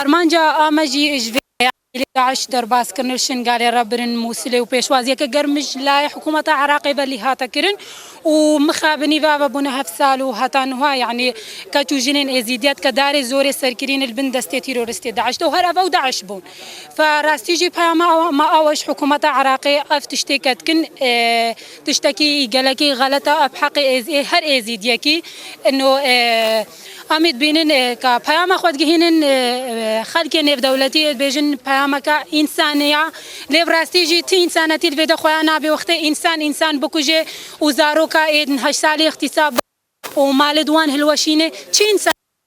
Armanca ame jî ji vê heyalê DAIŞ derbazkirin û Şingalê re birin Mûsilê û pêşwaziyeke germ ji lay hikûmeta Iraqê ve lî hate kirin û mixa bi nîve ve bûne heft sal û heta nuha yanî keç û jinên êzîdî ya tikedarê zorê serkirîn li bin destê tîroristê DAIŞ de û her ev ew DAIŞ bûn. Rastî jî peyama me awe ji hikûmeta Iraqê ev tiştê ketkin. Tiştekî gelekî xelet e, ev heqê êz ê her êzîdiyekî ino e. Amê dibînin ka peyama xwe digihînin xelkê nêvdewletî ê dibêjin peyameke însanî ya. Lê bi rastî jî ti însanetî divê de xuya nabê wextê însan însan bikuje û zaroka êdin heşt salî îxtîsab bike û malê di wan hilweşînê. Çi însanetî?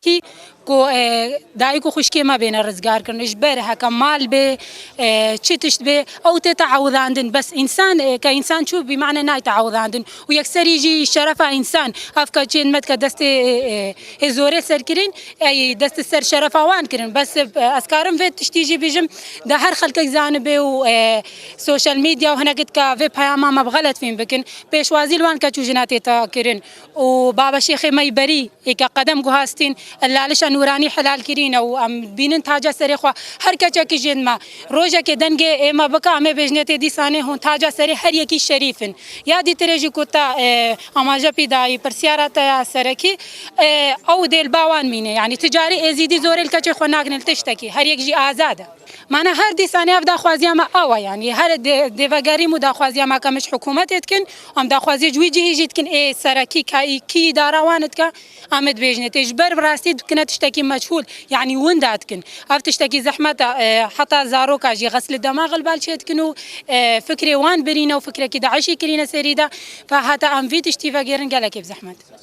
Tî ku dayik û xwişkê me bêne rizgarkirin, ji ber heke mal bê, çi tişt bê, ew tê teewidandin. Bes însan ke însan çû bî mane nayê teewidandin û yekserî jî şerefa însan. Ev ke çênd me dike destê hê zorê ser kirîn, ey dest ser şerefa wan kirin. Bes ez karim vê tiştî jî bijim, de her xelkek zanibê û sosyal medya û hinekî dike vê peyama me bi xelet fêm bikin. Pêşwazî li wan keç û jina tê kirin. û Baba Şêxê me yî berî yê ke qedem guhastîn, li lalişa nûranî helal kirîne û em dibînin taca serê xwe. Her keçekî jê dime rojekê dengê ême bike em ê bêjinê tê dîsanê hûn taca serê her yekî şerîf in. Ya dîtirê jî ku te amaje pî dayî pirsyara te ya serekî ew dê li ba wan mîne. Yanî tu carî êzîdî zorê li keçê xwe nakin li tiştekî. Her yek jî azad e. Mana her dîsanê ev daxwaziya me awa yan yê. Here dêve gerîm û daxwaziya me ke min ji hikûmetê dikin û em daxwaziyê ji wî cihê jî dikin ê serekî ke kî îdara wan dike em dibêjine tê. Ji ber bi rastî dikine tiştekî meçhûl yanî winda dikin. Ev tiştekî zehmet e. Heta zaroka jî xeslî demax li bal çêdikin û fikrê wan birîne û fikrekî DAIŞ'î kirîne serî de. Heta em vî tiştî vegêrin gelekî bi zehmet e.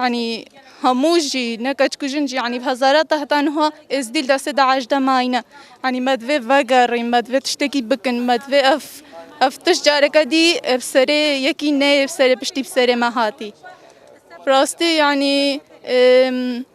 Yanî hemû jî ne keç ku jin jî yanî bi hezarata heta niha Êzdî li destê DAIŞ de mayîne. Yanî me divê vegerîn, me divê tiştekî bikin, me divê ev ev tişt careke dî bi serê yekî neyê bi serê piştî bi serê me hatî. Bi rastî yanî